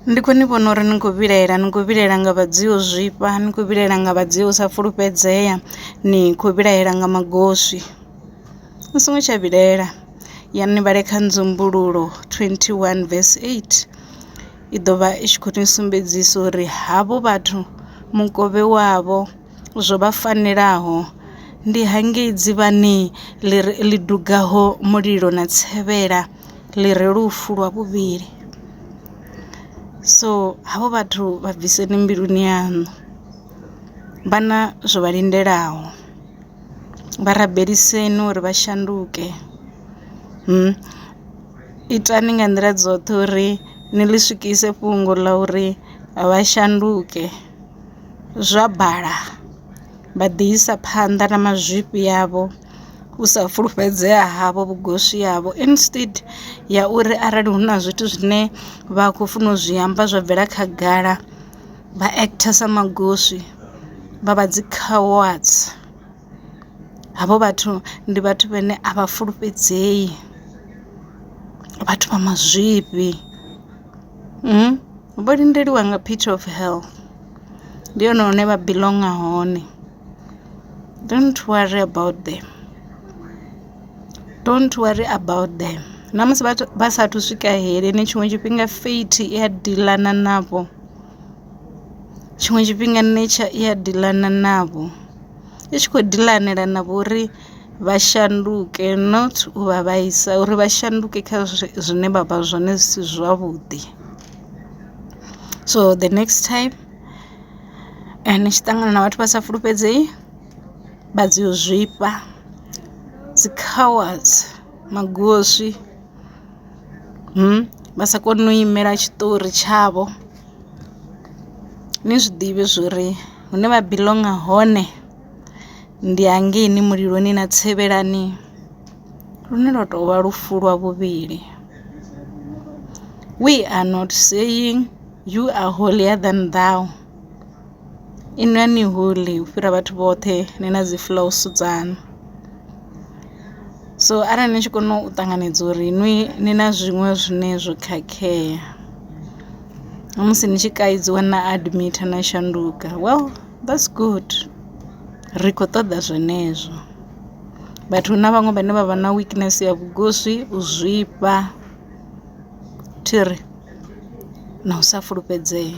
Ndi kho ni vhona uri ni kho vhilaela ni kho vhilaela nga vha dzio zwifha ni kho vhilaela nga vha dzio sa fulufhedzea ni kho vhilaela nga magoswi ni songo tsha vhilaela ya ni vhale kha nzumbululo twenty one verse eight i ḓo vha i tshi khou ni sumbedzisa uri havho vhathu mukovhe wavho zwo vha fanelaho ndi hangei dzivhani ḽi dugaho mulilo na tsevhela. ḽi re lufu lwa vhuvhili so havho vhathu vha bviseni mbiluni yaṋu vha na zwo vha lindelaho vha rabeliseni uri vha shanduke itani nga nḓila dzoṱhe uri ni ḽi swikise fhungo ḽa uri vha shanduke zwa bala vha ḓi isa phanḓa na mazwifhi avho. u sa fulufhedzea havho vhugoswi havho instead ya uri arali hu na zwithu zwine vha khou funa u zwi amba zwa bvela khagala vha actor sa magoswi vha vha dzi cowards. Havho vhathu ndi vhathu vhane a vha fulufhedzei vhathu vha mazwifhi vho lindeliwa nga pit of hell ndi hone hune vha belong hone. Don't worry about them, don't worry about them na musi vhathu vha sathu swika heleni tshiṅwe tshifhinga fate i a diḽana navho, tshiṅwe tshifhinga nature i a diḽana navho i tshi khou dilanela na vho uri vha shanduke not u vha vhaisa uri vha shanduke kha zwine vha vha zwone zwi si zwavhuḓi so the next time. ni tshi ṱangana na vhathu vha sa fulufhedzei vha dzi u zwifha dzi cowards magoswi vha sa koni u imela tshiṱori tshavho. Ni zwiḓivhe zwori hune vha biḽonga hone ndi hangeini muliloni na tsevelani lune lwa tovha lufu lwa vhuvhili we are not saying. You are holier than thou inwi a ni holy u fhira vhathu vhoṱhe ni na dzi flaws dzaṋu so arali ni tshi kona u ṱanganedza uri inwi ni na zwiṅwe zwine zwo khakhea na musi ni tshi kaidziwa na admit na shanduka well that's good ri kho ṱoḓa zwenezwo vhathu na vhaṅwe vhane vha vha na weakness ya vhugoswi u zwifha. thiri na u sa fulufhedzea.